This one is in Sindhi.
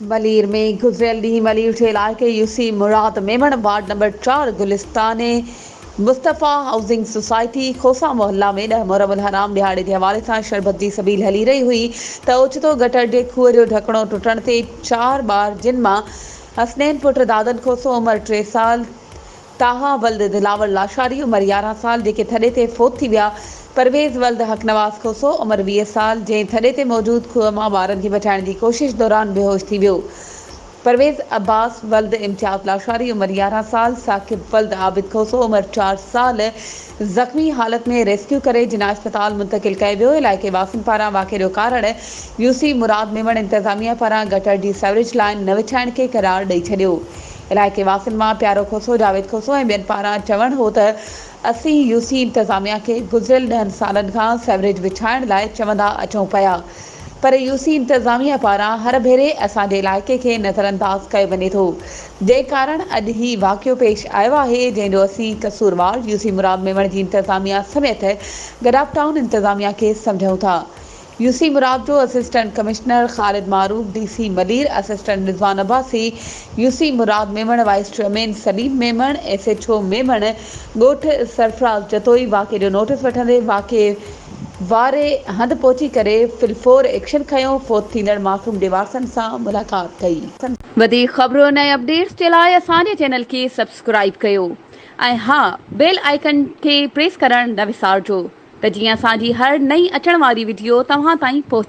ملير ۾ گذريل ڏينهن ملير جي علائقي U C Murad Memon ward number چار گلستان مصطفيٰ هائوسنگ سوسائٽي کوسا محلا ۾ ڏهه محرم الحرام ڏهاڙي جي حوالي سان شربت جي سبيل هلي رهي هئي ته اوچتو گٽر جي کوهه جو ڍڪڻو ٽٽڻ تي چار ٻار جن مان حسنين پٽ دادن کوسو عمر ٽي سال طاها ولد دلاور لاشاري عمر يارهن سال جيڪي ٿڏي تي فوت ٿي ويا، پرويز ولد حقنواز کوسو عمر ويهه سال جنهن ٿڏي تي موجود کوهه مان ٻارن کي بچائڻ جي ڪوشش دوران بيهوش ٿي ويو، پرويز عباس ولد امتياز لاشاري عمر يارهن سال ثاقب ولد عابد کوسو عمر چار سال زخمي حالت ۾ ريسڪيو ڪري جناح اسپتال منتقل ڪيو ويو علائقي واسين پاران واقعي جو ڪارڻ يو سي مراد ميمڻ انتظاميه پاران گٽر جي سيوريج لائين نه وڇائڻ کي قرار ڏئي ڇڏيو علائقي واسين مان پيارو کوسو، جاويد کوسو ۽ ٻين پاران چوڻ هو ته اسين يو سي انتظاميا کي گذريل ڏهن سالن کان سيوريج وڇائڻ لاء چوندا اچون پيا پر يو سي انتظاميا پاران هر ڀيري اسان جي علائقي کي نظرانداز ڪيو وڃي ٿو جنهن ڪارڻ اڄ هي واقعو پيش آيو آهي جنهن جو اسين قصوروار يو سي مراد ميمڻ جي انتظاميا سميت گڏاپ ٽائون انتظاميا کي سمجهون ٿا. يو سي مراپجو، assistant commissioner Khalid Maroof, D C Malir, assistant Rizwan Abbasi, U C Murad Memon, vice chairman Saleem Memon, S H O Memon ڳوٺ سرفراز جتوئي واقعي جو نوٽيس وٺندي واقعي واري هنڌ پهچي ڪري فلفور ايڪشن کنيو، فوت ٿيندڙ معصوم جي وارثن سان ملاقات ڪئي. وڌيڪ خبرون ۽ اپڊيٽس جي لاء اسان جي چينل کي سبسڪرائيب ڪيو. ۽ ها بيل آئيڪن کي پريس ڪرڻ نه وسارجو ته جيئن اسان جي هر نئين اچڻ واري وڊيو توهان تائين پهچي.